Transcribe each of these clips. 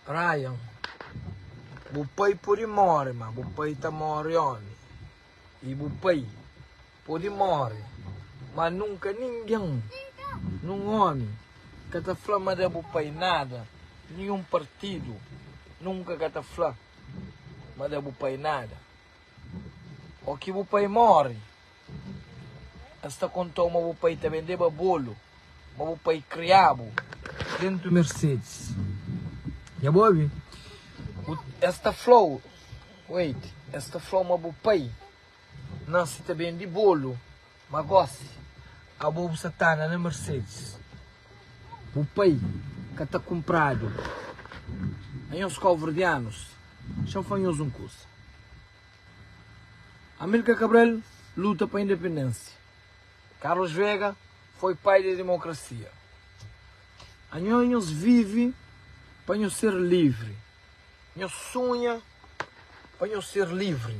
Ryan, bu pai pode móre, má bu pai ta móre ómi. I bu pai pode móre, má nunka ningen, nen ómi, ka ta fla ma da bu pai nada. Ninhun partidu nunka ka ta fla ma da bu pai nada. Ó ki bu pai móre, el sta kontau ma bu pai ta bendeba bolu ma bu pai kria-bu dentu Mercedes. Nha bo obi, bu el sta flau, wait, el sta flau ma bu pai nase ta bendi bolu. Ma gosi, abo bu sa ta anda na Mercedes. Bu pai ka ta kunpradu a nhos káuverdianus. Xa N fla nhos un kuza. Amílkar Kabral luta pa independênsia. Karlos Vega foi pai di demokrasia. Anhos nhos vive pa nhos ser livri. Nhos sunha pa nhos ser livri.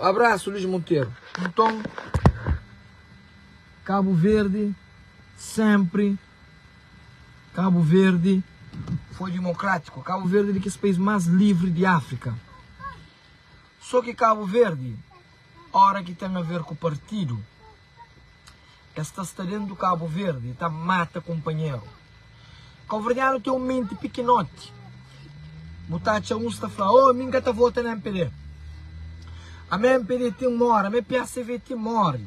Abraço Luiz Monteiro. Nton Cabo Verde sempre Cabo Verde foi democrático Cabo Verde de kes país mais livre de África só que Cabo Verde hora que tem a ver com partido Es ta sta dentu Kabu Verdi e ta mata kunpanheru. Kabuverdianu ten un menti pikinoti. Bu ta atxa uns ta fla, Oh, mi N ka ta vota na MPD. A me MPD ti N mora, me PACV ti N mori.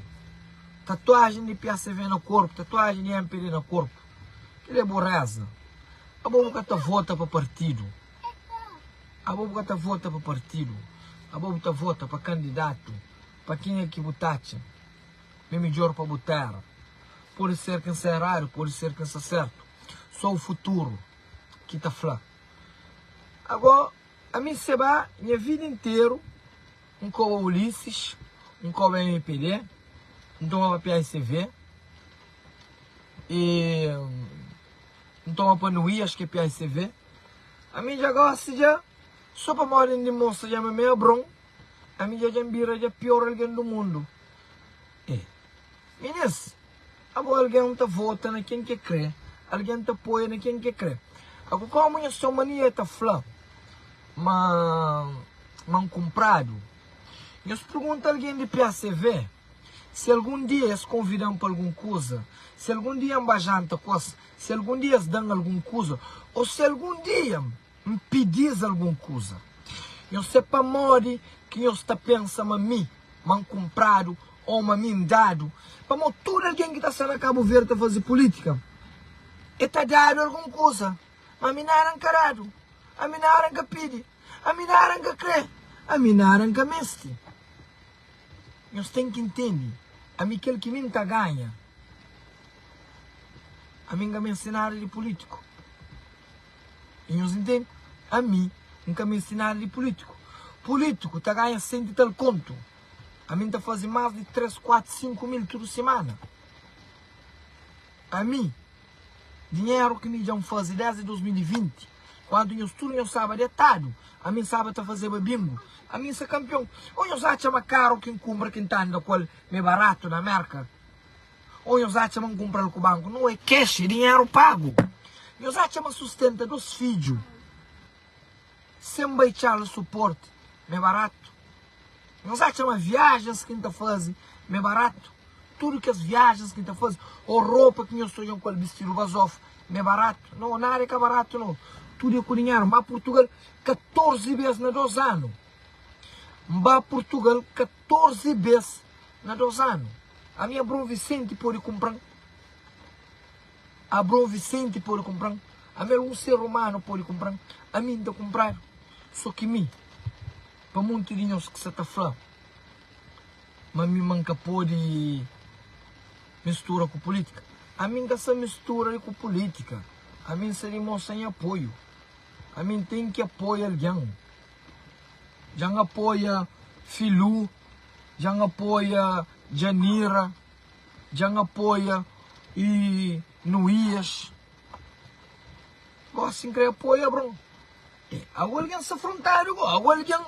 Tatuajen di PACV na korpu, tatuajen di MPD na korpu. Kel-li é bureza. Abo bu ka ta vota pa partidu. Abo bu ka ta vota pa partidu. Abo bu ta vota pa kandidatu. Pa kenha ki bu ta atxa ma é midjór pa bu? Téra pode ser ki N sta eradu, pode ser ki N sta sértu, sô u futuru ki ta fla. Agó, ami seba nha vida interu N koba Ulisses, N koba MPD, N tomaba PASV, e N toma pa Nui, ax ki é PASV. Ami dja gósi dja, sô pamodi N dimonstra dja ma mi é bron. Ami dja dja-m bira dja pior algen do mundo e Minês abo algen ta vota na ken ke kre algen ta apoia na ken ke kre ago komo nha somalia ta fla ma man kunpradu nhos pergunta algen di PACV si algun dia es konvidan pa algun kuza si algun dia nba janta kos si algun dia es dan algun kuza o si algun dia. N pidi-s algun kuza. Nhos sé pamodi ki nhos ta pensa ma mi, ma N kunpradu ô ma mi N dadu? Pamô tudu algen ki ta sta na Kabu Verdi ta faze pulítika, e ta dadu algun kuza. Má ami nada N ka dadu, ami nada N ka pidi, ami nada N ka krê, ami nada N ka meste. Nhos ten ki ntende, ami kel ki mi N ta ganha, ami N ka meste nada di pulítiku. i nhos intende? Ami N ka meste nada di pulitiku, pulitiku ta ganha senti tal kontu, ami N ta faze mas di tres, kuatu, sinku mil tudu simana, ami dinheru ki mi dja N faze desdi 2020 kuantu nhos tudu nhos staba detadu, ami N staba ta fazeba bingu, ami N sa kampion, o nhos atxa ma karu ki N kunpra ki N ta anda ku el m'e baratu na Merka? Ou nhos atxa ma N kunpra-l ku banku? Nau, é cash, é dinheru pagu! Nhos atxa ma sustenta dôs fidju sen bai txal suporti ma é baratu? Nhos atxa ma viajens ki N ta faze ma é baratu? Tudu kes viajens ki N ta faze ou ropa ki nhos ta odja-m ku el bistidu bazofa ma é baratu? Nau, nada é ka baratu, nau. Tudu é ku dinheru. N ba Purtugal 14 bês na dôs anu. N ba Purtugal 14. 14 bes na 2 anu. Ami Abraon Vicente pode kunpran Abraon Vicente pode kunpran Ami algun ser humano pode kunpran Ami N ta kunpradu So ki mi Pa monti di nhos ki sa ta fla Ma mi ma N ka pode mistura ku politika Ami N ka sa mistura li ku politika Ami N sa dimostra nha apoiu Ami N ten ki apoia algen. Dja N apoia Filú Dja N apoia Djanira Dja N apoia y Nuías Gosi N kre apoia bro E agu algen sa frontadu go Agu algen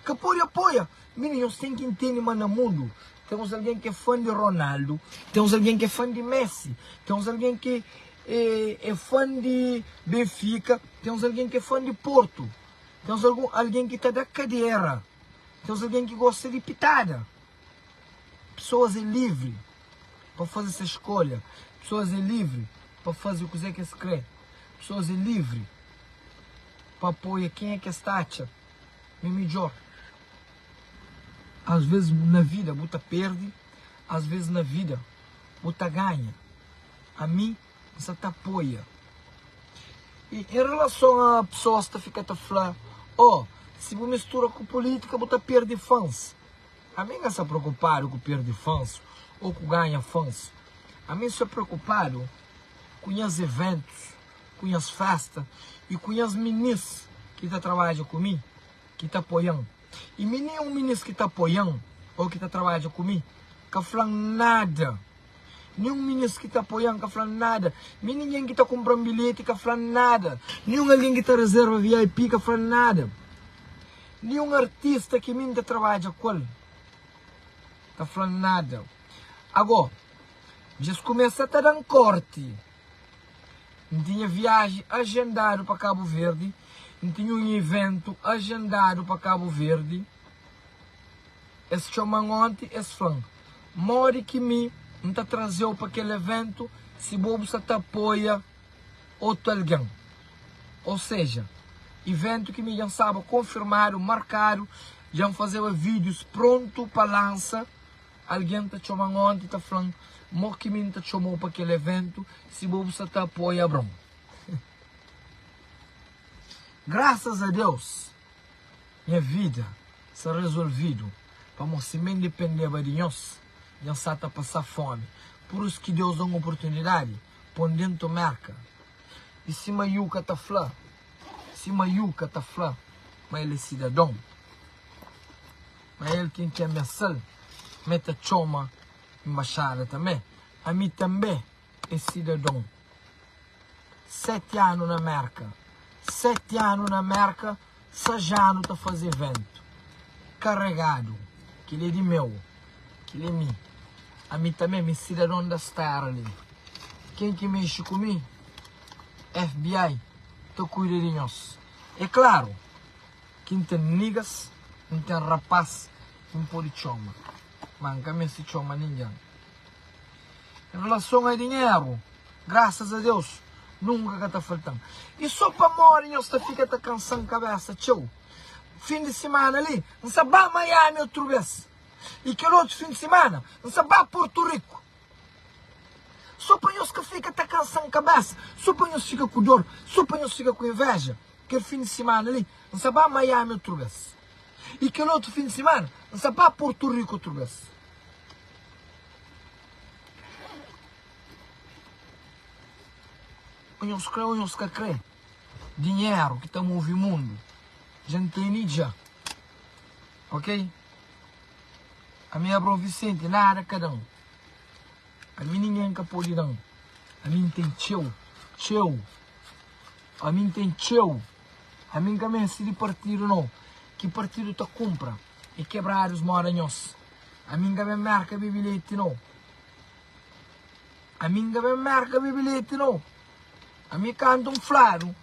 ka podi apoia Mini nhos ten ki ntende ma na mundu Ten uns algen ke fan di Ronaldo Ten uns algen ke fan di Messi Ten uns algen ke e fan di Benfica Ten uns algen ke fan di Porto Ten uns algen ki ta da kadera, ten uns algen ki gosta di pitada. Pesoas é livri pa faze ses skolha, pesoas é livri pa faze kuzê ki es krê, pesoas é livri pa apoia kenha ki es ta atxa ma é midjór. Asvês na vida bu ta perde, asvês na vida bu ta ganha. Ami. N sa ta apoia. I en relason a pesoas ta fika ta fla, Oh, si bu mistura ku pulítika bu ta perde fans. Ami N sa preokupadu ku perde fans ô ku ganha fans. Ami N sa preokupadu ku nhas eventus, ku nhas festa i ku nhas minis ki ta trabadja ku mi, ki ta apoia-m. I mi nin un minis ki ta apoia-m ô ki ta trabadja ku mi ka fla-m nada. Nin un minis ki ta apoia-m ka fla-m nada. Mi ningen ki ta kunpra-m bilheti ka fla-m nada. Nin un algen ki ta rezerva VIP ka fla-m nada. Nin un artista ki mi N ta trabadja ku el ka fla-m nada. Agó, dja es kumesa ta da-m kórti. N tinha viaji ajendadu pa Kabu Verdi. N tinha un iventu ajendadu pa Kabu Verdi. Es txoma-m onti, es fla-m, Modi ki mi N ta traze-u pa kel iventu si bo bu sta ta apoia otu algen? Ô seja, iventu ki mi dja N staba konfirmadu, markadu, dja N fazeba vídius prontu pa lansa. Algen ta txoma-m onti ta fla-m Mo ki mi N ta txoma-u pa kel eventu si bo bu sa ta apoia Abraon. Grasas a Deus, nha vida sa rezolvidu pamó si mi N dipendeba di nhos, nha sa ta pasa fómi. Purus ki Deus da-m oportunidadi pô-m dentu Merka. I si Mayuka ta fla? Si Mayuka ta fla ma el é sidadon? Ma el ten ki amesal, ma el ta txoma inbaxada tanbe. Ami tanbe é sidadon. Seti anu na Merka, seti anu na Merka, sajanu ta faze ventu. Karegadu, kel-li é di meu, kel-li é mi. Ami tanbe, mi sidadon da Stera li. Ken ki mexe ku mi, FBI ta kuida di nhos. É klaru, Ki N ten nigas, N ten rapás ki N pode txoma, má N ka meste txoma ningen. N relason a dinheru, grasas a Deus, nunka ka ta falta-m. I sô pamodi nhos ta fika ta kansa-m kabésa txeu, fin di simana li N sta ba Miami otu bês, i kel otu fin di simana N sta ba Portu Riku, sô pa nhos ka fika ta kansa-m kabésa, sô pa nhos fika ku dor, sô pa nhos fika ku invéja. Kel fin di simana li, N sta ba Miami otu bes. I kel otu fin di simana, N sta ba Porto Rico otu bes. O nhos kre o nhos ka kre, dinheru ki ta move mundu dja N tene dja. Ok? Ami Abraon Visenti, nada kada un. Ami ninguém ka pode dan Ami N ten txeu, txeu Ami N ten txeu Ami N ka meste di partidu no Ki partidu ta kunpra e kebradu-s moda nhos Ami N ka ben Merka bebe leti no Ami N ka ben Merka bebe leti no Ami kanta N fladu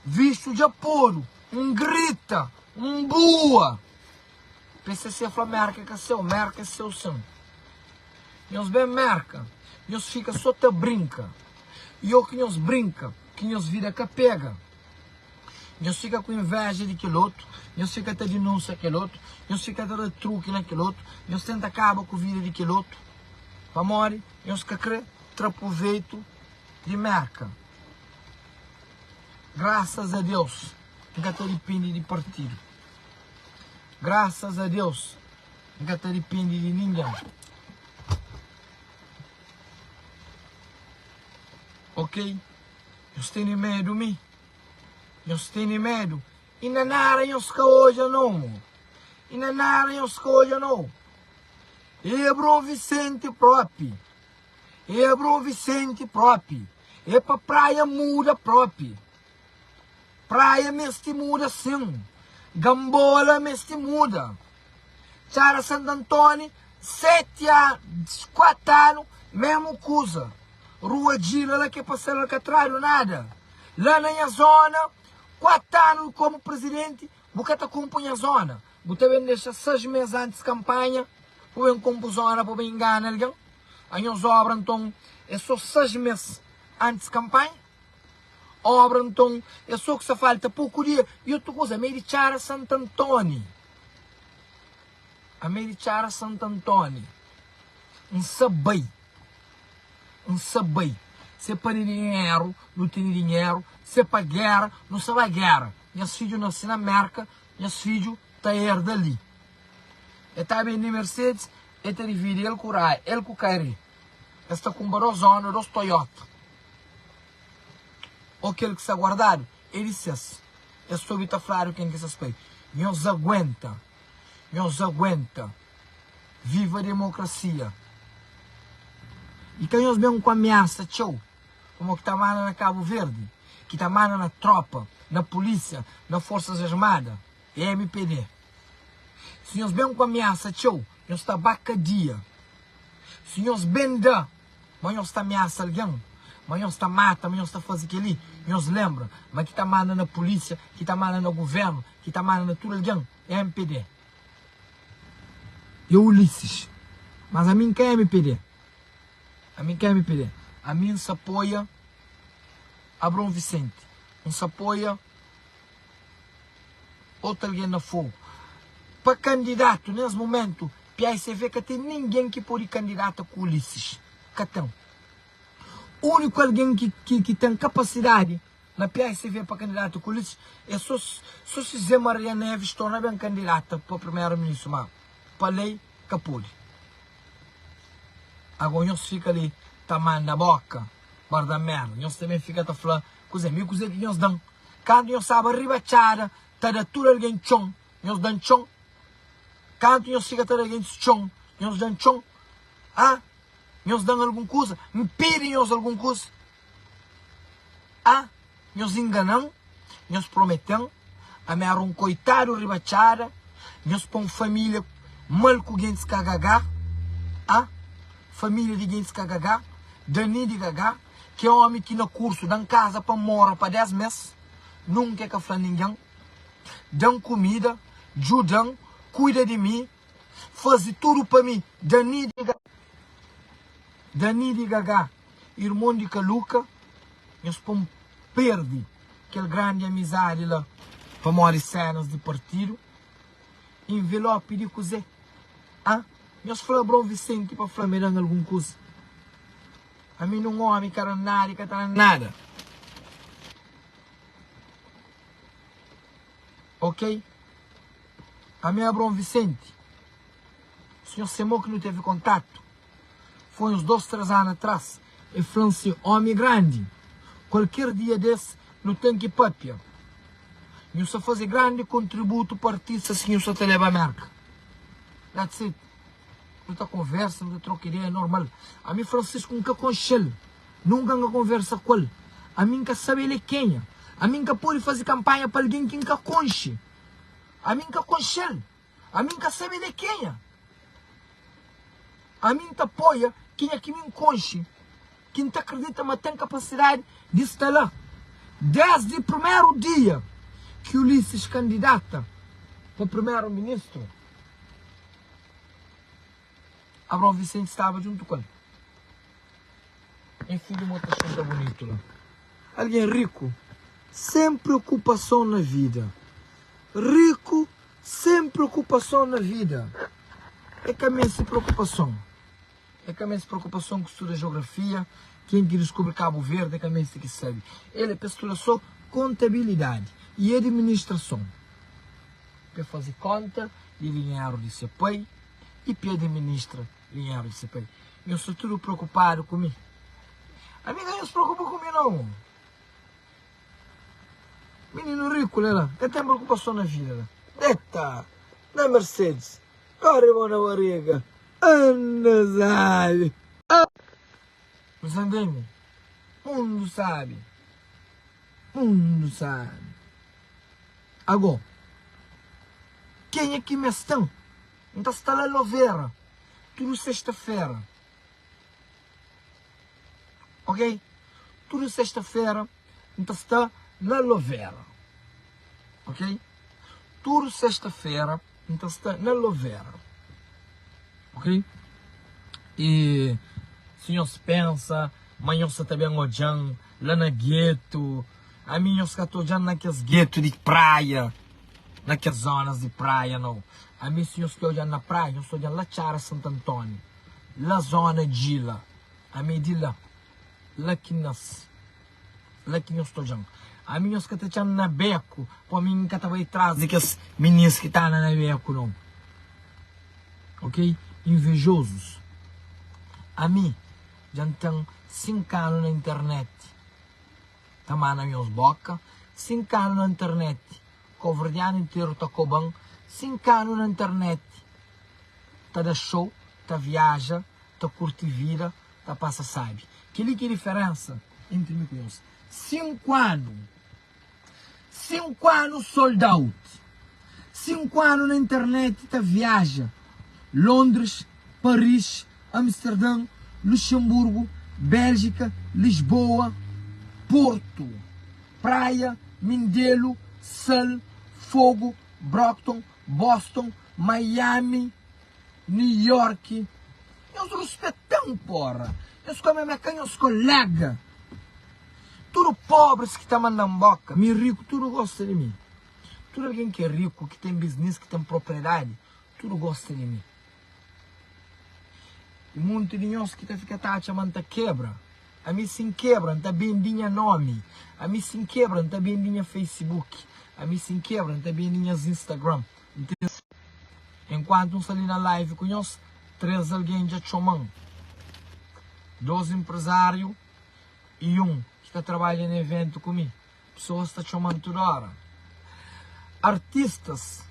Vistu dja podu N grita N bua. Pcc fla Mérka é ka séu, Mérka é séu sin Nhos ben Mérka, nhos fika sô ta brinka I ô ki nhos brinka, ki nhos vida ka pega Nhos fika ku invéja di kel otu Nhos fika ta dinúnsia kel otu Nhos fika ta da truki na kel otu Nhos tenta kaba ku vida di kel otu Pamodi nhos ka kre tra pruveitu di Mérka Grásas a Deus, N ka ta dipende di partidu. Graças a Deus N ka ta depende de ninguém Ok Nhos tene medo mi Nhos tene medo E na nada nhos ka odja no E na nada nhos ka odja no E bro Vicente propi E bro Vicente propi E pa praia muda propi Praia mesti muda sim. Gambola mesti muda. Txara Sant Antoni 7 an 4 anu mesmu kuza. Rua Djila la ke pasal alkatradu nada. La na nha zona 4 anu komu presidenti bu ka ta kumpu nha zona. Bu ta ben dexa 6 mes antis kanpanha pa ben kumpu zona pa ben ingana algen. A nhos obra nton e so 6 mes antis kanpanha. Obra nton é só ku sa falta poku di el i otu kuza amei di txara santa ntoni amei di txara santa ntoni N sa bai N sa bai se pa di dinheru nu tene dinheru se pa gera nu sa ba gera nhas fidju nase na merka nhas fidju ta erda li el ta bende mercedes el ta dividi el ku raya el ku kari el sta kunpra dos honda dos toyota Ó kel ki sta guardadu, é di ses. Es ta obi ta fladu ken ki é ses pai. Nhos aguenta, nhos aguenta. Viva demokrasia. I ka nhos ben ku amiasa txeu, komo ki ta manda na Kabu Verdi, ki ta manda na tropa, na polisia, na forsas armada, é MPD. Si nhos ben ku amiasa txeu, nhos ta ba kadia. Si nhos ben da Ma nhos ta ameasa algen? Ma nhos ta mata? Ma nhos ta faze kel-li? Nhos lenbra ma ki ta manda na pulísia, ki ta manda na guvérnu, ki ta manda na tudu algen é MPD. I é Ulisses. Mas ami N ka é MPD. Ami N ka é MPD. Ami N sa apoia Abraon Visente. N sa apoia. Otu algen na fogu. Pa kandidatu nes mumentu PAICV ka ten ninguem ki podi kandidata ku Ulisses. Ka ten. Uniku algen ki ten kapasidadi na PAICV pa kandidata ku Ulisses e so so si Zé Maria Neves torna ben kandidata pa primeru ministru ma pa lei ka podi. Ago nhos fika li ta manda boka barda merda. Nhos ta ben fika ta fla Kuzê mi kuzê ki nhos da-m? Kantu nhos staba riba txada ta da tudu algen txon, nhos da-m txon? Kantu nhos fika ta da gentis txon, nhos da-m txon? A Nhos da-m algun kuza? N pidi nhos algun kuza? A Nhos ingana-m? Nhos promete-m? Ami éra un koitadu riba txada? Nhos pô un família mal ku gentis kagagá? A Família di gentis kagagá? Dani di gagá? Ke omi ki na kursu dan kaza pa mora pa 10 mes nunka e ka fla ningen, dan kumida, djudan, kuida di mi, fazi tudu pa mi. Danidiga Danidigaga irmon di kaluka nhos pon perdi kel grandi amizadi la pamodi senas di partidu invelopi di kuze ah nhos fla bron visenti pa fla me dan algun kuza Ami nun omi ka da nada e ka ta da nada. Ok. Ami Abraon Visenti. Sinhor se mo ki nu tevi kontatu foi uns dos, tres anu atras. E fla-m si, Omi grandi, kualker dia des nu ten ki papia. Nhu sa faze grandi kontributu pa artistas ki nhu sa ta leba Merka. That's it. Nu ta konversa, nu ta troka ideia normal. Ami Francisco N ka konxe-l, nunka N ka konversa ku el. Ami N ka sabe el é kenha. Ami N ka pode faze kanpanha pa algen ki N ka konxe. Ami N ka konxe-l, ami N ka sabe el é kenha. Ami N ta apoia kenha ki mi N konxe. ki N ta kridita ma ten kapasidadi di sta la. Désdi primeru dia ki Ulisses kandidata pa primeru-ministru, Abraon Visenti staba djuntu ku el. Nha fidju, mo ta xinta bunitu la. Algen riku, sen preokupason na vida. Riku, sen preokupason na vida. E ka meste preokupason. É ka meste preokupason ku studa jeografia, ken ki diskubri Kabu Verdi é ka meste ki sabe el, é pa es studa so kontabilidadi y administrason, pa e faze konta di dinheru di se pai y pa e administra dinheru di se pai. Nhos sta tudu preokupadu ku mi? Ami ka nhos preokupa ku mi nau. Mininu riku la, la ka ten preokupason na vida la. Deta! Na Mercedes Kóre mô na barega Anna sabe Bu sa ntende Mundu sabe Mundu sabe Agó Kenha ki m'es ten N ta sta la lovera Tudu sesta-fera. Ok, tudu sesta-fera N ta sta na Lovera Ok, tudu sesta-fera N ta sta na Lovera Ok, y si nhos pensa ma nhos sa ta ben odja-m la na getu Ami nhos ka ta odja-m na kes getu di praia Na kes zonas di praia, nau Ami si nhos ta odja-m na praia, nhos ta odja-m la Txara Santu Antoni La zona djila ami di la la ki nhos la ki nhos todjan ami nhos ka ta txan na beku po ami nka ta bai tras di kes minins ki ta na na beku non ok invejozus ami dja n ten sink anu na internet ta mana nhos boka sink anu na internet Koverdianu interu ta koba-m Sin kanu na internet Ta da show, ta viaja, ta kurti vida, ta pasa sabi Kel-li ki é diferensa entri mi ku nhos Sinku anu Sinku anu sold out Sinku anu na internet ta viaja Londres, Paris, Amsterdã, Luxemburgu, Béljika, Lisboa, Portu, Praia, Mindelu, Sal, Fogu, Brockton, Boston, Miami, New Yorki. Nhos ruspeta-m, pora! Nhos ka meme ka nhos kolega. Tudu pobris ki ta manda-m boka, mi riku tudu gosta di mi. Tudu algen ki é riku, ki ten biznis, ki ten propriedadi, Tudu gosta di mi. I monti di nhos ki ta fika ta atxa ma N ta kebra. Ami si N kebra, N ta bendi nha nomi. Ami si N kebra, N ta bendi nha Facebook. Ami si N kebra, N ta bendi nhas Instagram. N ta ri. Enkuantu N sta li na live ku nhos, três algen dja txoma-m. Dôs enprezáriu i un ki ta trabadja na eventu ku mi. Pesoas ta txoma-m tudu óra. Artistas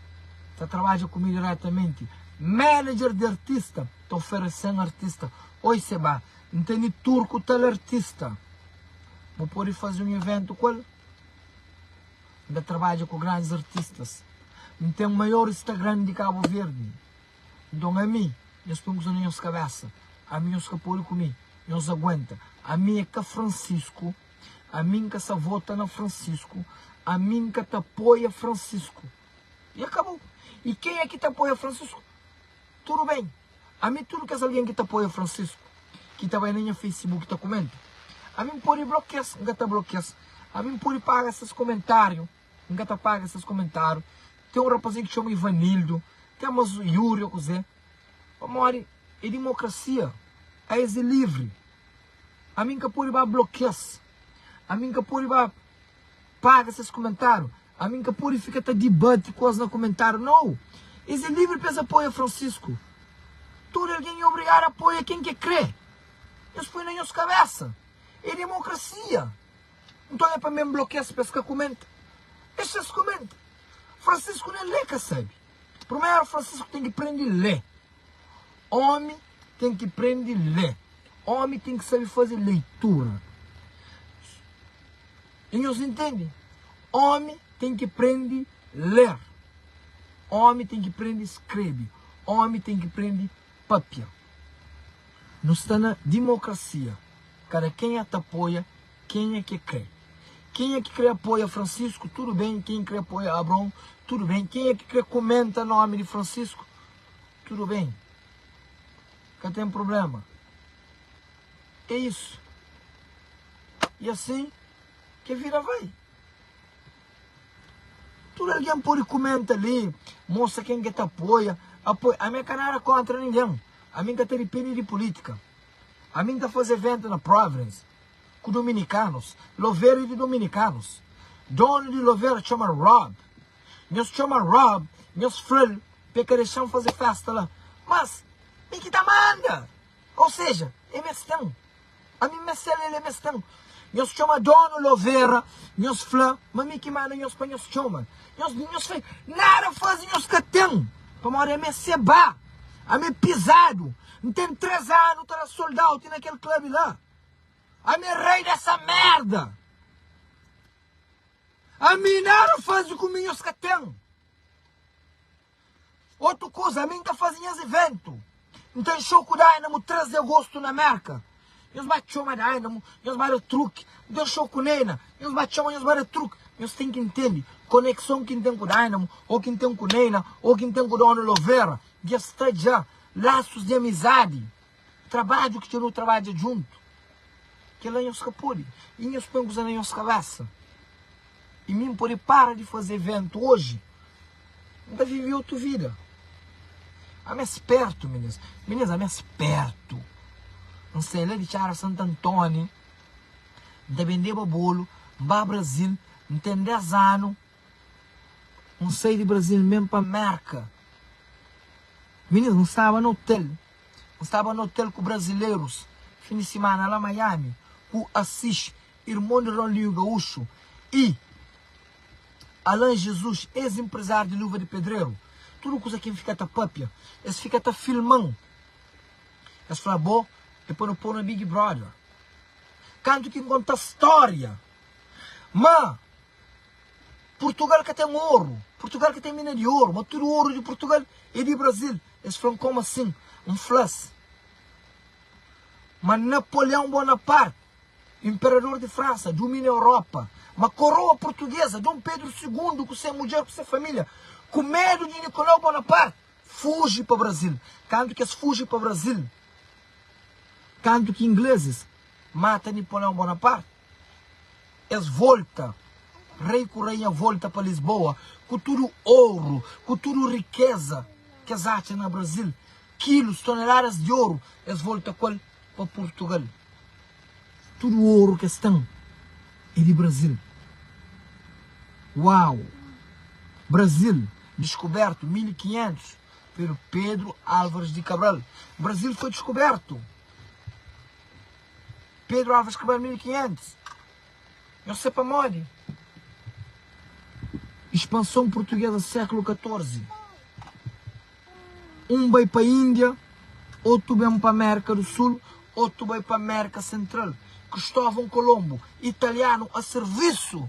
ta trabadja ku mi diretamenti. Manager di artista ta oferese-m artista. Oi Seba, N tene tour ku tal artista. Bu pode faze un ivéntu ku el? N ta trabadja ku grandis artistas. N ten maior Instagram di Kabu Verdi. Nton, ami, nhos ten kuza na nhos kabésa. Ami, nhos ka pode kume. Nhos aguenta. Ami é ka Francisco. Ami nka sa vota na Francisco ami nka ta apoia Francisco e akabou e ken é ki ta apoia Francisco tudo bem ami tudo kes alguém ki ta apoia Francisco ki ta bai na nha Facebook ta comenta ami npodi blokias nka ta blokias ami npodi paga ses comentario nka ta paga ses comentario tem um rapazinho ki chama Ivanildo tem mas Yuri o kuzé pamodi é democracia país é livre. Ami n ka pode ba blokia-s Ami n ka pode ba paga ses kumentáriu Ami n ka pode fika ta dibati ku es na kumentáriu Nau! Es é livri pa es apoia Fransisku Tudu algen é obrigadu apoia ken ki el krê Nhos poi na nhos kabésa É demokrasia Nton é pa mi N blokia-s pa es ka kumenta Es txeu es kumenta Fransisku nen lé ka sabe. Primeru Francisco tem ki prende lê Homi tem ki prende lê Homi tem ki sabe faze leitura E nhos intende? Homi tem ki prende ler Homi tem ki prende skrebe Homi tem ki prende papia Nos ta na dimokrasia Kada kenha ta apoia Kenha ke kre. Kenha ke kre apoia Francisco tudo bem kenha ke kre apoia Abraão tudo bem kenha ke kre comenta nome de Francisco tudo bem ka tem problema é isso e assim ke vida vai tudo alguém pode comenta ali mostra quem ke ta apoia apoia ame ka nada contra ninguém ame ka ta depende de politica ame ta fazer evento na province ku dominikanus, lovera é di dominikanus, donu di lovera txoma Rob, nhos txoma Rob, nhos fla-l pa el ka dexa-m faze fésta la, mas mi ki ta manda, ou seja, é mes ten, ami meste-l, el é mes ten, nhos txoma donu lovera, nhos fla ma mi ki manda nhos pa nhos txoma-l, nhos di nhos fla-l nada faze nhos ka ten, pamodi ami é sebá, ami é pizadu, N ten três anu ta da sold out na kel club la. Ami rei dessa merda. Ami nada fazi ku minhos ka tem. Otu kuza, ami nta fazi nhas evento. Nta nxou ku Dynamo no 3 de agosto na Merka. Nhos ba txoma Dynamo, nhos ba da truki. Nta nxou ku Neina, nhos ba txoma, nhos ba da truki. Nhos tem ki ntende konexon ki ntem ku Dynamo, ou ki ntem ku Neina, ou ki ntem ku Dona Lovera. Dja sta dja lasus de amizadi. Trabadju ki txeu nu trabadja djuntu, kel-la nhos ka pode. I nhos poi un kuza na nhos kabésa, i mi N pode para di faze eventu oji, N ta vive otu vida. Ami é spértu, minês. Minês, ami é spértu. N sai la di Txara Santu Antóni, N ta bendeba bolu, N ba Brazil, N ten dés anu, N sai di Brazil, N ben pa Mérka. Minês, N staba na otel. N staba na otel ku brazilerus fin di simana la Miami ku Assis, irmon di Ronlinho Gaúcho, i Alan Jesus, ex inprezariu di Luva di Pedreru. Tudu kusa ki N fika ta papia, es fika ta filman. Es fla, Bo e pa no pô-u na Big Brother. Kantu ki N konta storia ma. Purtugal ka ten oru, Purtugal ka ten mina di oru, ma tudu oru di Purtugal é di Brazil. Es fla-m, Kómu asin? N fla-s, Ma Napoleon Bonaparte, inperador di Fransa, dumina Europa, ma koroa purtuguesa, Dom Pedru Sigundu, ku se mudjer, ku se família, ku medu di Nicolau Bonaparte, fuji pa Brazil. Kantu ki es fuji pa Brazil, kantu ki inglesis mata Nipoleon Bonaparte, Es volta, rei ku rainha volta pa Lisboa ku tudu oru, ku tudu rikeza ki es atxa na Brazil, kilus, toneladas di oru, es volta ku el pa Purtugal. Tudu oru ki es ten é di Brazil. Uau! Brazil diskubertu 1500 peru Pedro Álvares di Cabral. Brazil foi diskubertu. Pedro Álvares Cabral 1500 Nhos sé pamodi Ispanson purtuguesa séklu 14 Un bai pa Índia Otu ben pa Mérka du Sul Otu bai pa Mérka Sentral Kristóvon Kolonbu Italianu a sirvisu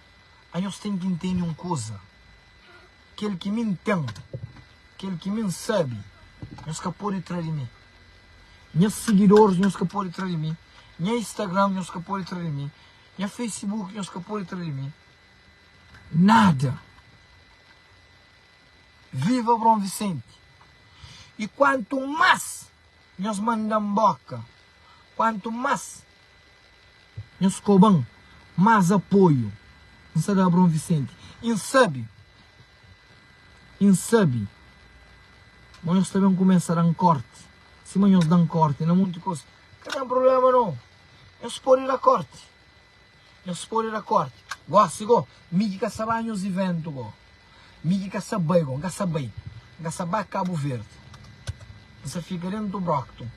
A nhos ten ki ntende un kuza, Kel ki mi N ten, kel ki mi N sabe, nhos ka pode tra di mi. Nha sigidoris nhos ka pode tra di mi, nha Instagram nhos ka pode tra di mi, nha Facebook nhos ka pode tra di mi. Nada! Viva Abraon Visenti! I kuantu mas nhos manda-m boka, kuantu mas Nhos skoba-m más apoiu. N sa da Abraon Visenti. I N sabe. I N sabe. Má nhos ta ben kumesa da-m kórti. Sima nhos da-m kórti na monti kos, ka ten prubléma nô. Nhos pode da kórti. Nhos pode da kórti. Gósi, gô, mi ki ka sa ba nhos ivéntu, gô. Mi ki ka sa bai, go, N ka sa bai, N ka sa ba Kabu Verdi, N sa fika dentu do Brockton,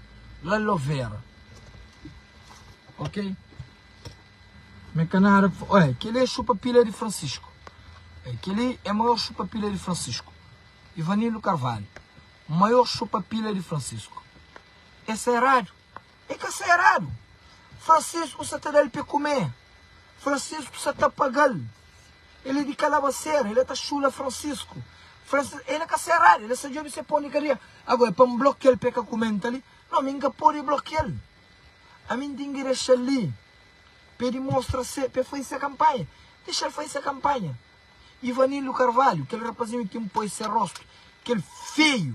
la lo vera. Ok. Me ka nada pa fa. Oi, keli é xupa pila di Francisco. Oi, keli é maior xupa pila di Francisco. Ivanildo Carvalho, maior xupa pila di Francisco. Essa é radio. E ka sta eradu. Francisco sa ta da-l pe kume. Francisco sa ta paga-l. El e di kalabaseira. El e ta xula Francisco. Francisco, el e ka sta eradu. El e sa djobe se pon di kadia. Ago e pa N blokia-l pe ka kume-m ta li? No, mi N ka pode blokia-l. Ami N ten ki dexa-l li pe dimostra se, pe faze se kanpanha. Dexa-l faze se kanpanha. Ivanildo Carvalho, kel rapazinho ten poi se rostu, kel feio.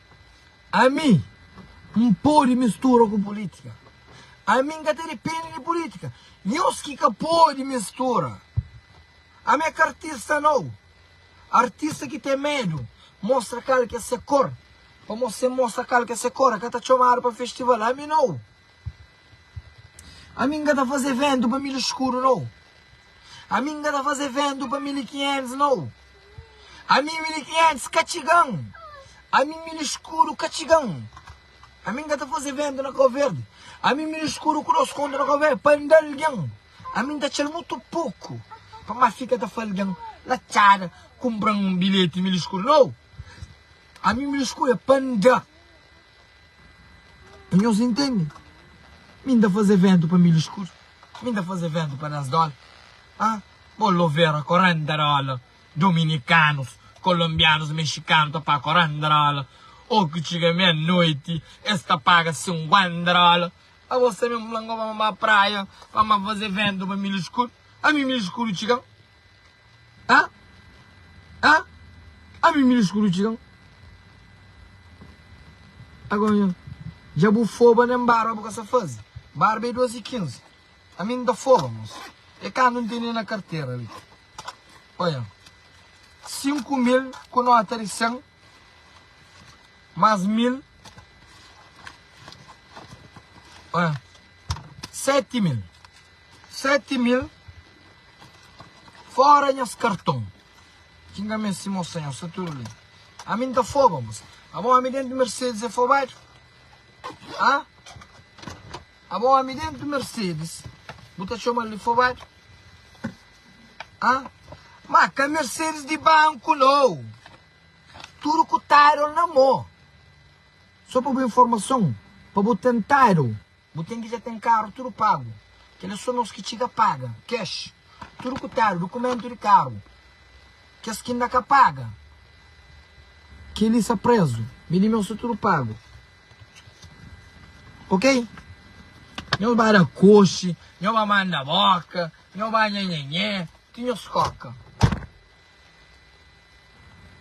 Ami N pode mistura ku pulítika Ami N ka ta depende di pulítika Nhos ki ka pode mistura Ami é ka artista nau Artista ki ten medu Mostra kal ki é se kor Pamodi si N mostra kal ki é se kor N ka ta txomadu pa festival Ami nau. Ami n ka ta faze ventu pa mil skuru no Ami n ka ta faze ventu pa mil i kinhentus no Ami mil i kinhentus ka txiga-m Ami mil skuru ka txiga-m Ami n ka ta faze ventu na Kau Verdi Ami mil skuru ku nos konta na Kau Verdi pa nda algen Ami n ta txa-l mutu poku pa ma fika ta fla algen La txada kunpra-m un bilheti mil skuru no Ami mil skuru é pa nda. Nhos intende? Mi n ta faze ventu pa milhu skuru, mi n ta faze ventu pa da-s dóla. Ha? Bo lovera korenta dóla, dominikanus, kolonbianus, mexikanu ta paga korenta dóla. Ora ki txiga mia-noti, es ta paga sinkuenta dóla. Abo sabe, N fla-m, goba, N ba praia pa N ba faze ventu pa milhu skuru. Ami milhu skuru txiga-m. Ah Ah Ah mi mi lskuru txikam Agon nha Dja bu foba nen barba bu ka sa faze Barba e dos y kinzi A mi n ta foba mos E kandu n tene na kartera li Oia Sinku mil ku nota di sen Mas mil Oia Seti mil. Seti mil fora nhas karton ki nga meste mostra nhos sta tudu li ami nta foba bos abo ami dentu mercedes é fobadu ha abo ami dentu mercedes bu ta txomal di fobadu ha ma ka mercedes di banku nau tudu ku title na mo so pa bu informason pa bu ten title Bu ten ki dja ten karu tudu pagu. Kel é sô nos ki txiga paga, cash, tudu ku tadu, dukumentu di karu. Kes ki inda ka paga, kel-li sa prézu. Mi di nos sa tudu pagu. Ok? Nhos ba da koxi, nhos ba manda bóka, nhos ba nhanhanhé, ti nhos kóka.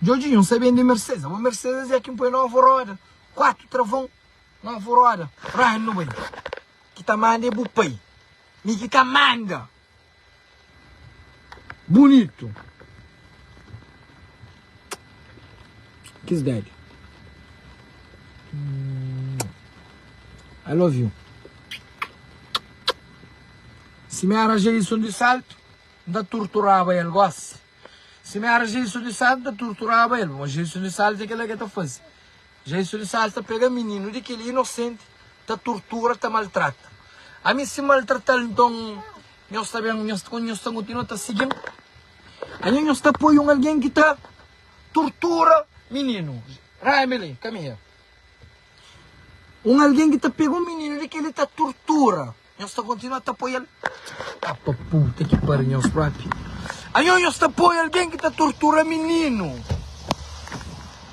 Djodjinho, N sabê N di Mercedes. Abo Mercedes é ki N poi novu roda, kuatu travon. Nau fu roda ranu bai. Ki ta manda é bu pai. Mi ki ta manda. Bunitu. Kiss daddy. I love you. Si mi éra Jason di Salto, N ta turturaba el gosi. Si mi éra Jason di Salto, N ta turturaba el. Má Jason di Salto é kel-la ki el ta faze. Ja e sulisada ta pega mininu di kil inosenti ta turtura ta maltrata ami si maltratal nton nhos ta ben nhos ta kontinua ta sigil anha nhos ta poi un algen ki ta turtura mininu raiba li kamiha un algen ki ta pega un mininu di kil ta turtura Nhos ta kontinua ta apoia el? Ka pa puta ki pariu nhos propi. Anho nhos ta apoia algen ki ta tortura mininu.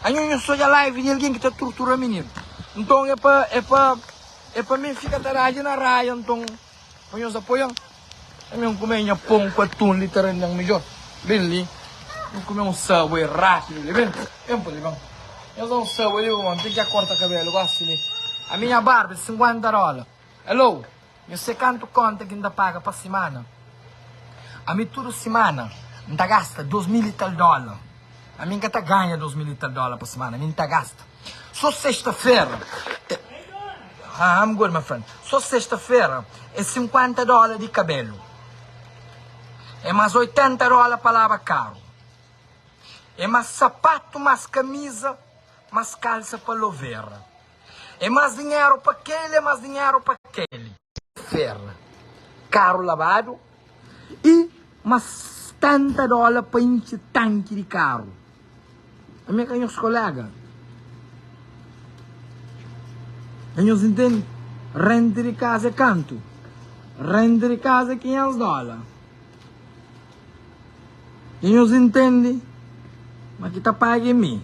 Anho nhos ta odja live di algen ki ta tortura mininu. Nton e pa e pa e pa mi fika ta raja na raia nton pa nhos apoian. E mi nkume nha pon ku atun li ta rendan midjor. Ben li nkume un subway rapidu li ben. Ben pa li ben. Nhos da un subway li pa mon. Ten ki a korta kabelu gosi li. Ami nha barba e 50 dola. Hello, nhu se kantu konta ki nta paga pa simana. Ami tudu simana nta gasta dos mil i tal dola. Ami nka ta ganha dos mil i tal dola pa simana, ami nta gasta so sesta fera e Ahn I'm good my friend so sesta fera e sinkuenta dola di kabelu e mas oitenta dola pa laba karu e mas sapatu mas kamiza mas kalsa pa lovera. É más dinheru pa kel-li, é más dinheru pa kel-li. Fera, karu labadu y más tanta dóla pa intxi tanki di karu. Ami é ka nhos koléga. É nhos intende? Renti di kaza é kantu? Renti di kaza é 500 dóla. E nhos intende ma ki ta paga é mi.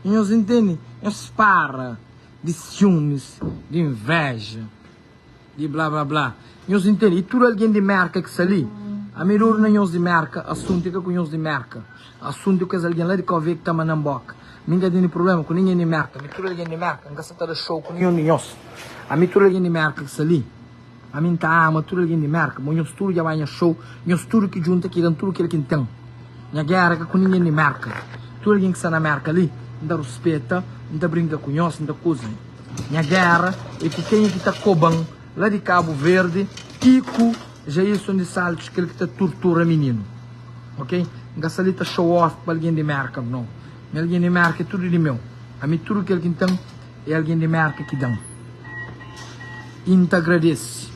E nhos intende? Nhos para di siumis, di invéja, di blá blá blá. Nhos intende? E tudu algen di Mérka ki sta li, ami duru na nhos di Mérka, asuntu é ka ku nhos di Mérka. Asuntu é ku kes algen la di Kóvia ki ta manda-m bóka. Mi N ka tene prubléma ku ningen di Mérka. Ami tudu algen di Mérka, N ka sta ta da xou ku ninhun di nhos. Ami tudu algen di Mérka ki sta li. Ami N ta ama tudu algen di Mérka Bo nhos tudu dja bai nha xou Nhos tudu ki djunta ki da-m tudu kel ki N ten Nha géra ka ku ningen di Mérka Tudu algen ki sta na Mérka li N ta ruspeta N ta brinka ku nhos N ta kuze Nha géra é ku kenha ki ta koba-m La di Kabu Verdi i ku Jailson di Saltus Kel ki ta turtura mininu Ok N ka sta li ta show off pa algen di Mérka No Nha algen di Mérka é tudu di meu Ami tudu kel ki N ten. É algen di Mérka ki da-m i N ta agradese.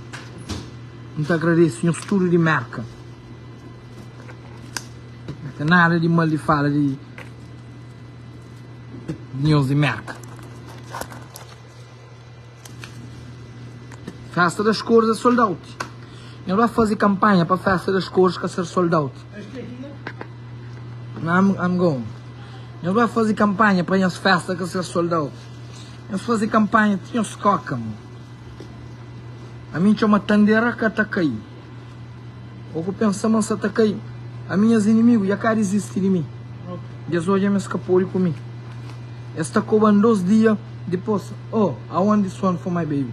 N ta agradese nhos tudu di Mérka. N ka ten nada di mal di fala di nhos di Mérka. Fésta das Kór é sold-out. Nha ba fazi kanpanha pa festa das cores ka ser sold out I'm going Nha ba fazi kanpanha pa nhas festa ka ser sold out Nhos fazi kanpanha ti nhos skoka mo Ami N txoma tandera ka ta kai O ku pensa ma N sa ta kai Ami Nhas inimigu dja ka dizisti di mi Di es odja ma es ka podi ku mi Es ta koba-m dos dia dipos Oh, I want this one for my baby.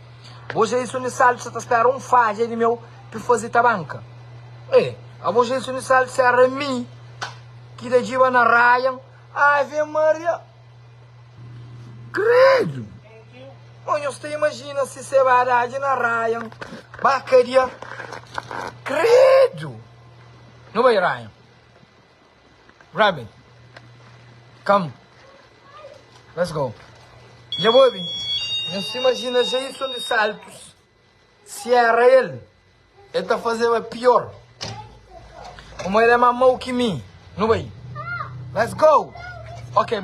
Bo Jason y Saldi sa ta spera un fadja di meu pa e fazi tabanka. E, abo Jason y Saldi sa era mi ki ta djiba na Ryan. Ave Maria! Kredu! Ô nhos ta imajina si se ba dadji na Ryan ba kadia. Kredu! Nu bai Ryan. Rabbit come let's go dja bu obi nhos ta imajina Jason dos Santos si era el el ta fazeba pior komo el é más mau ki mi nu bai let's go ok.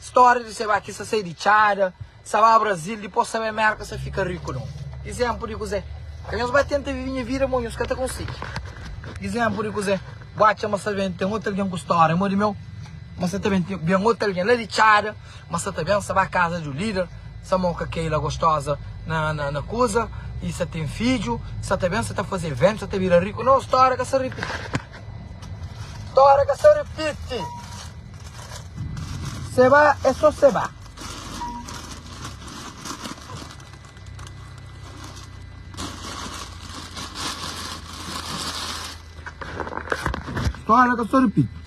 Stória di Sabá ki sa sai di Txada, sa ba Brazil, dipôs sa bai Mérka, sa fika riku nau. Izénplu di kuzê? Ka nhos ba tenta vive nha vida, mo nhos ka ta konsigi. Izénplu di kuzê? Bu atxa ma sa ben ten otu algen ku stória mô di meu? Ma sa ta ben ten ben otu algen la di Txada? Ma sa ta ben sa ba kaza di un líder? Sa mô ka kai la gostóza na na kuza? I sa ten fidju? Sa ta ben sa ta faze eventu, sa ta bira riku? Nau, stória ka sa ripiti. Stória ka sta ripiti. Seba é sô seba. Stória ka sta ripiti.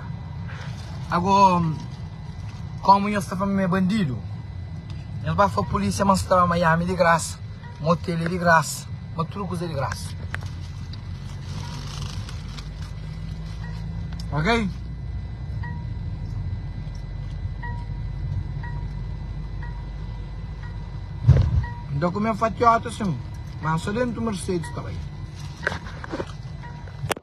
Ago, komu nhos ta fla ma mi é bandidu, nhos ba fla pulisia ma nhos staba Miami di grasa, ma otel é di grasa, ma tudu kuza é di grasa. Ok? N ta kume fatiota sin, ma so dentu Mercedes ta bai.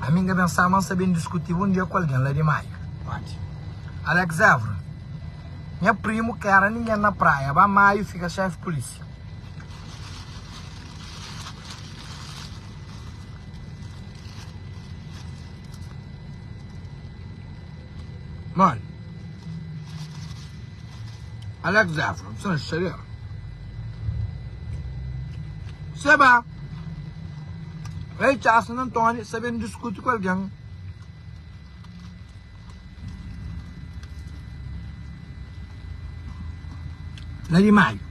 Ami n'ga ben sa, ma n'sa ben diskuti bun dia ku algen la di Maiu. Óti. Alex Évora, Nha primu ka éra ningen na Praia, ba Maiu fika xéfi pulísia. Mon. Alex Évora, M'sa na xixadeira. Seba. Rei Charles na Antoni sa ben diskuti ku algen. Na di maiu.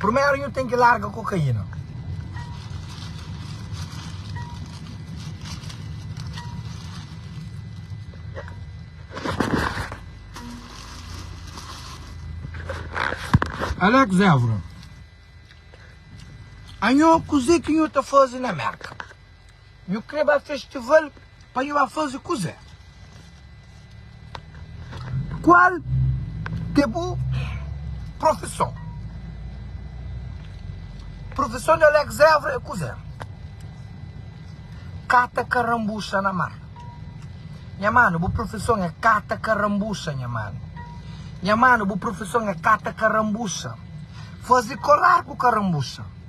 Purmeru nhu ten ki larga kokaina. Alex Evra, Anhô, kuzê ki nhu ta faze na Merka? Nhu kre ba festival pa nhu ba faze kuzé? Kual ke bu profison? Profison di Alex Évora é kuzé? Kata karambuxa na mar Nha mano, bu profison é kata karambuxa nha mano Nha mano, bu profison é kata karambuxa Faze kolar ku karambuxa.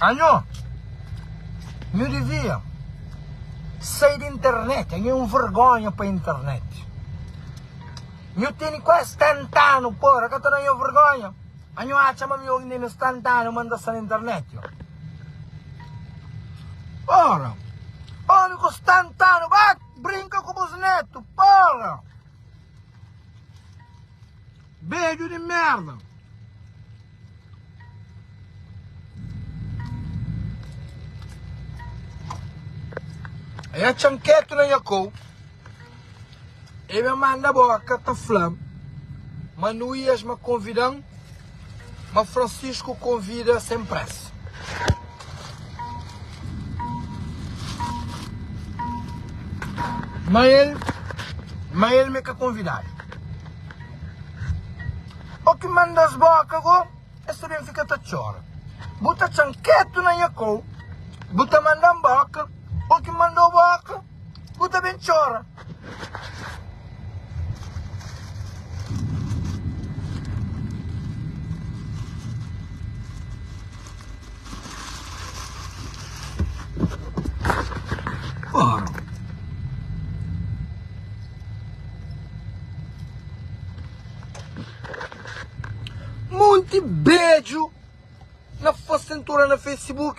Anho nhu divia sai di internet, anho é un vergonha pa internet. Nhu teni kuazi 70 anu pora ka ta da nho vergonha? Anho atxa ma mihor inda é nos 70 anu ma n ta sta na internet yo. Pora, omi ku 70 anu ba brinka ku bus netu, pora. Bedju di merda. E a txanketu na nha kou. E ben manda boka ta fla ma nu ias ma konvidan ma Francisco konvida sem pressa. Ma el, ma el m'é ka konvidadu O ki manda-s bóka go, es ta ben fika ta txora Bu ta txa-m ketu na nha kau Bu ta manda-m bóka O ki manda-u bóka Bu ta ben txora. Monte Bedju. Na faz tentura na facebook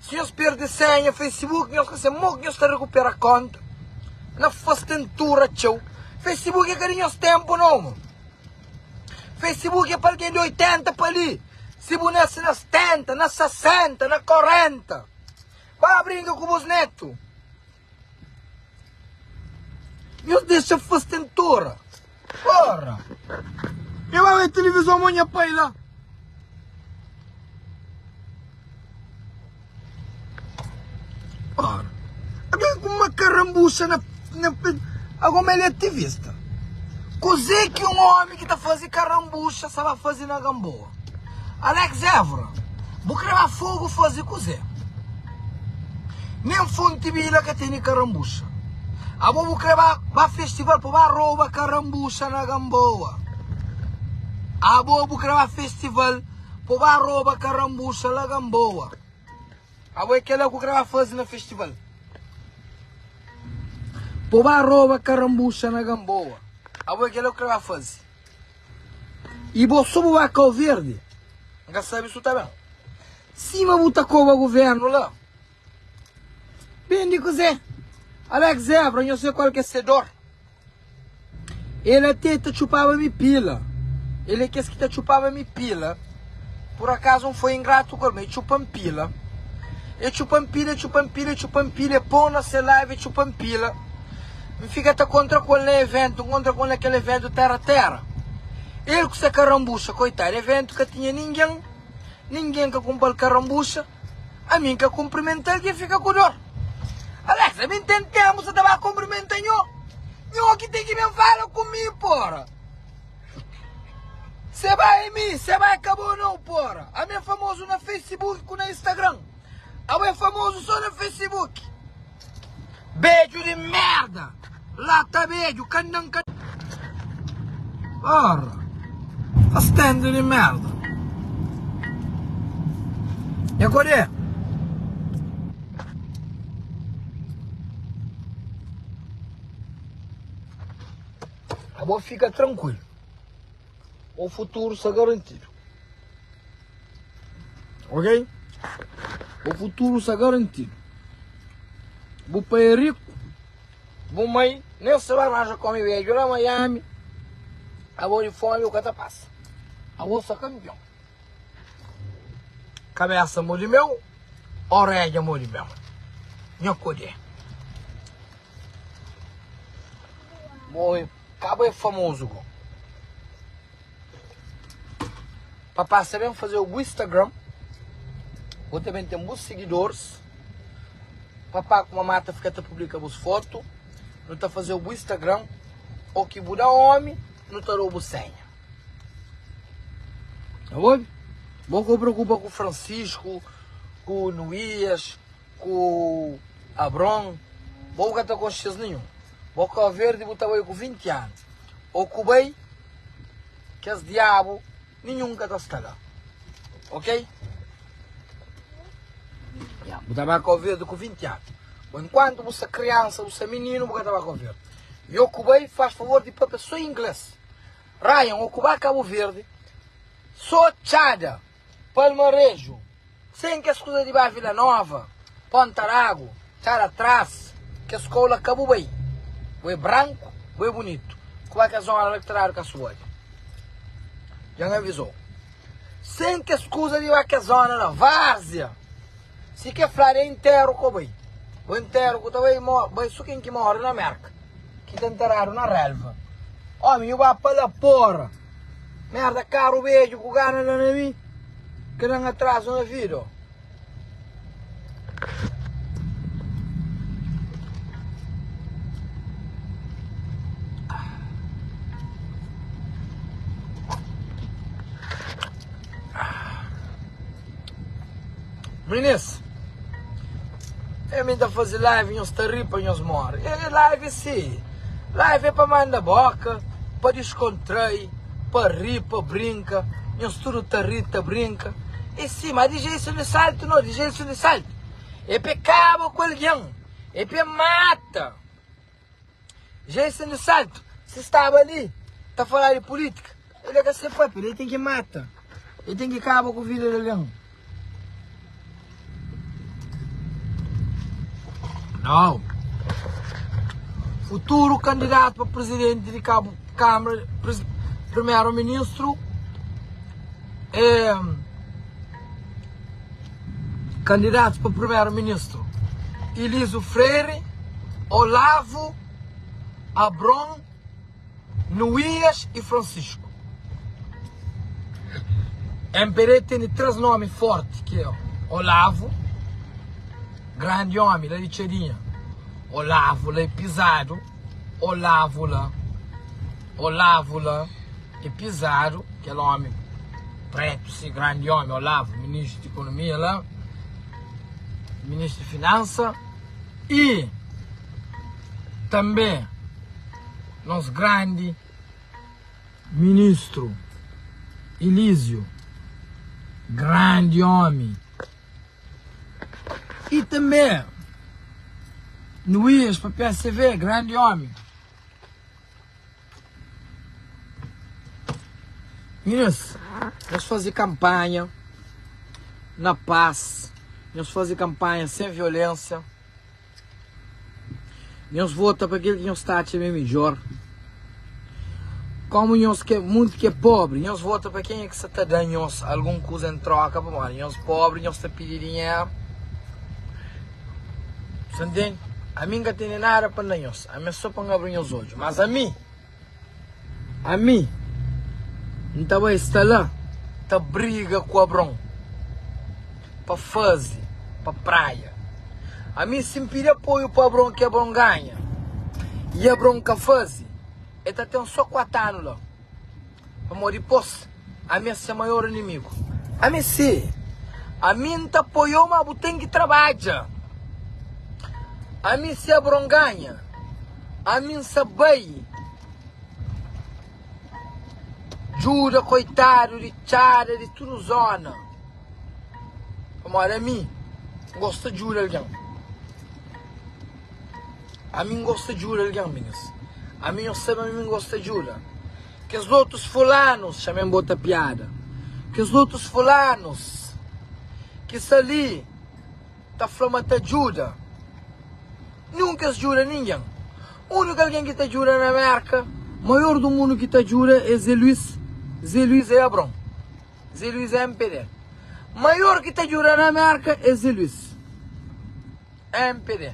si nhos perde senha facebook nhos ka se mok nhos ta rekupera konta na faz tentura txeu facebook e ka di nhos tempo no mo facebook e pa algen di 80 pa li si bu nase na 70 na 60 na 40 ba bringa ku bus neto. Nhos dexa fastentora Ora E ba wé tilivizon mo nha pai la Ora Algen ku makarambuxa na na pe Agoma el é ativista Kuzé ki un ómi ki ta faze karambuxa sa ba faze na Gamboa? Alex Evra, bu kre ba fogo faze kuze? Nen fonte bila ka tene karambuxa. Abo bu kre ba ba festival pa ba roba karambuxa na Gamboa? Abo bu kre ba festival pa ba roba karambuxa la Gamboa? Abo e kela ku kre ba faze na festival? Pa ba roba karambuxa na Gamboa? Abo e kela ku kre ba faze? Y bo so bo ba kau verdi N ka sabi su ta ben Sima bu ta koba guvernu la Ben di kuzé Alex Zebra nho se kual ke se dor El até ta txupaba mi pila El é kes ki ta txupaba mi pila Pur akazu N foi ingratu ku el, ma e txupa-m pila. E txupa-m pila, e txupa-m pila, e txupa-m pila, e pô-m na se ladu, e txupa-m pila. N fika ta kontra ku el na eventu, N kontra ku el na kel eventu tera-tera. El ku se karambuxa, koitadu, eventu ka tinha ningen, ningen ka kunpra-l karambuxa, ami N ka kunprimenta-l ki N fika ku dor. Alex, ami N ten tenpu, sa ta ba kunprimenta nho? Nho ki ten ki ben fala ku mi, pora! Se bai é mi, se bai ka bo nau pora Ami é famozu na facebook ku na instagram Abo é famozu so na facebook Bedju di merda La ta bedju kandan ka Pora Ka stendu di merda Nha kodê Abo fika trankuilu. Bo futuru sa garantidu. Ok? Bo futuru sa garantidu. Bu pai é riku. Bu mai nem sa ba arranja come beju la Miami. Abo de fome bu ka ta passa. Abo sa campeão. Cabeça mo de meu, orelha mo de meu. Nha codé. Bo é, ka bo é famozu bo. Pa pasa ben fazeu bu Instagram, bo ta ben ten bus seguidores. Papá ku mamá ta fika ta publika bus fotu, nu ta fazeu bu Instagram, oki bu da omi, nu ta dau bu senha. Bo ka preokupa ku Francisco, ku Luiz. Ku Abron, bo bu ka ta konxe es ninhun. Bo kau verdi bu ta bai ku vinti anu. O ku bai, kes diabu ninhun ka ta stala. Ok? Ya, bu ta bai kau verdi ku vinti anu. Bo enkuantu bu sta kriansa, bu sta mininu, bu ka ta bai kau verdi. I o ku bai, fas favor di papia so ingles. Ryan, o ku bai Kabu Verdi, so txada. Palmareju, sen kes kuza di ba Vila Nova, Ponta Ragu, Cara Tras, kes kau la ka bu bai. Bu é branku, bu é bunitu. Ku ba kes zona la ki ta dadu kes subobi. Dja N avizou. Sen kes kuza di ba kes zona la. Várzia, si ke fladu é interu ka bu bai. Bu interu ku ta bai, bai so ken ki mora na Merka. ki ta nteradu na relva. Ómi, nhu ba pa la, pôra! Merda, karu bedju ku gana da na mi, ka da-m atrazu na vida, ó. Minis, é mi ta faze live nhos ta ri pa nhos more. É live si, live é pa manda boka, pa discontrai, pa ri, pa brinka, nhos tudo ta ri, ta brinka. É si, ma di jeison di salto no, di jeison di salto é pe kaba ku alguém, é pe mata. Já e sendo certo, si staba li ta falá di polítika, el é ka se papia, li el tem ki mata, el tem ki kaba ku vida di alguém. Nau! Futuro candidato pa presidente di Cabo, Câmara, Primeiro Ministro é Kandidatu pa Primeru Ministru, Ilizu Freire, Olavu, Abron, Nuias y Francisco. MPD tene tres nomi forti ki é Olavu, grandi omi la di Txedinha, Olavu la é pizadu, Olavu la, Olavu la. É pizadu kel omi pretu si grandi omi olavo ministru di ekonomia la ministru di finansa y tanbe nos grandi ministru ilizio grandi omi y tanbe nuias papia seve grandi omi. Minas, nhos faze kanpanha na pas, nhos faze kanpanha sen violénsia, nhos vota pa kel ki nhos ta atxa ma é midjór. Kómu nhos ke monti ki é póbri, nhos vota pa kenha ki sa ta da nhos algun kuza en tróka, pamodi nhos póbri, nhos ta pidi dinheru. Sa ntende? Ami N ka tene nada pa N da nhos. Ami é só pa N abri nhos odju. Mas ami, ami N ta bai sta la ta briga ku Abraon pa faze pa praia. Ami si N pidi apoiu pa Abraon ki Abraon ganha i Abraon ka faze, el ta ten só kuatu anu la, pamodi dipôs. Ami é se maior inimigu. Ami é se. Ami N ta poiô ma bu ten ki trabadja. Ami se bronganha. Ami N sa bai djuda koitadu di txada di tudu zona. Pamodi ami N gosta djuda algen. Ami N gosta djuda algen minhas. Ami nhos sabe ami N gosta djuda. Kes otus fulanus, txamem bota piada Kes otus fulanus ki sta li ta fla ma ta djuda Nunka es djuda ningen Úniku algen ki ta djuda na Mérka Maior di mundu ki ta djuda é Zé Luís Zé Luís é Abraon Zé Luís é MPD Maior ki ta djuda na Mérka é Zé Luís MPD.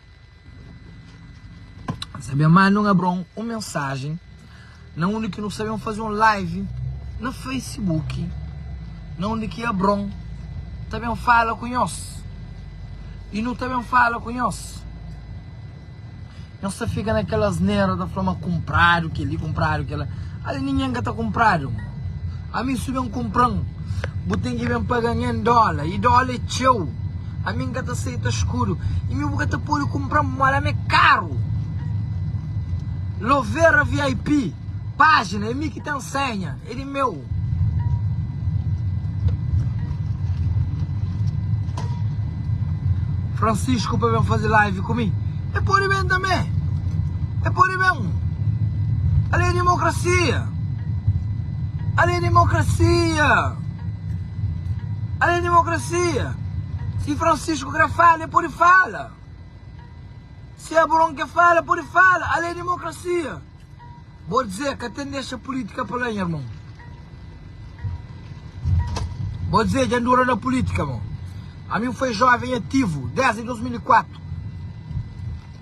Sabe amá num abra um um mensagem na onde que nos sabemos fazer um live na Facebook na onde que abram também fala com nós e não também fala com nós nós só fica naquelas nera da flama comprado que ele comprado que ela ali ninguém que tá comprado Ami su ben kunpran bu ten ki ben paga nha en dola i dola é txeu ami nka ta seita skudu i mi bu ka ta podi kunpran mola ami é karu lovera vip pajina é mi ki ten senha é di meu. Francisco pa ben fazi live ku mi e podi ben tanbe e podi ben ali é dimokrasia. Ali é demokrasia! Ali é demokrasia! Si Francisco kre fala, el pode fala! Si Abraon ke fala, el pode fala! Ali é demokrasia! Bo dze, ka ten dexa pulitika pa la nha irmon! Bo dze, dja N dura na pulitika, mon! Ami N foi joven ativo desdi 2004!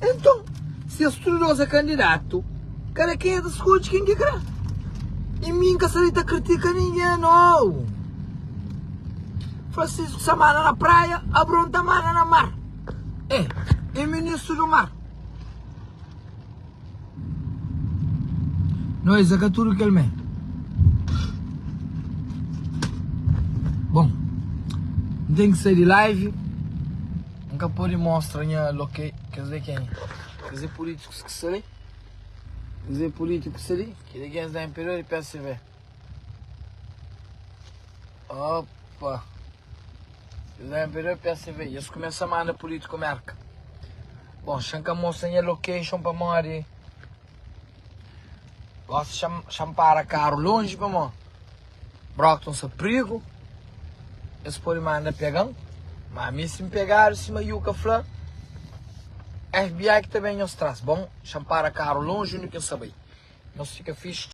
Enton, si es tudu dôs é kandidatu, kada ken é ta skodje ken ki krê. I mi N ka sta li ta kritika ningen, nau! Francisco sa manda na praia, Abraon ta manda na mar. E, e ministru du mar. Nau esa ka tudu kel mé Bon N ten ki sai di live N ka pode mostra nha loke Kes li é kenha? Kes li é pulitikus ki sta li Kes li é pulitikus ali Kel li é kenha? Kes li é imperior di psv Opa. Eles vêm ver o PSV e eles começam a mandar político América. Bom, Xan ka mostra nha location pa mó de... Gosta Xan, Xan para carro longe pa mó. Brockton sa prigo. Eles pode manda pegan. Mas mi sim pegado, sima Yuka fla, FBI que ta bem nhos traz. Bom, Xan para carro longe, onde que nhos sa bai. Nhos fica fixe.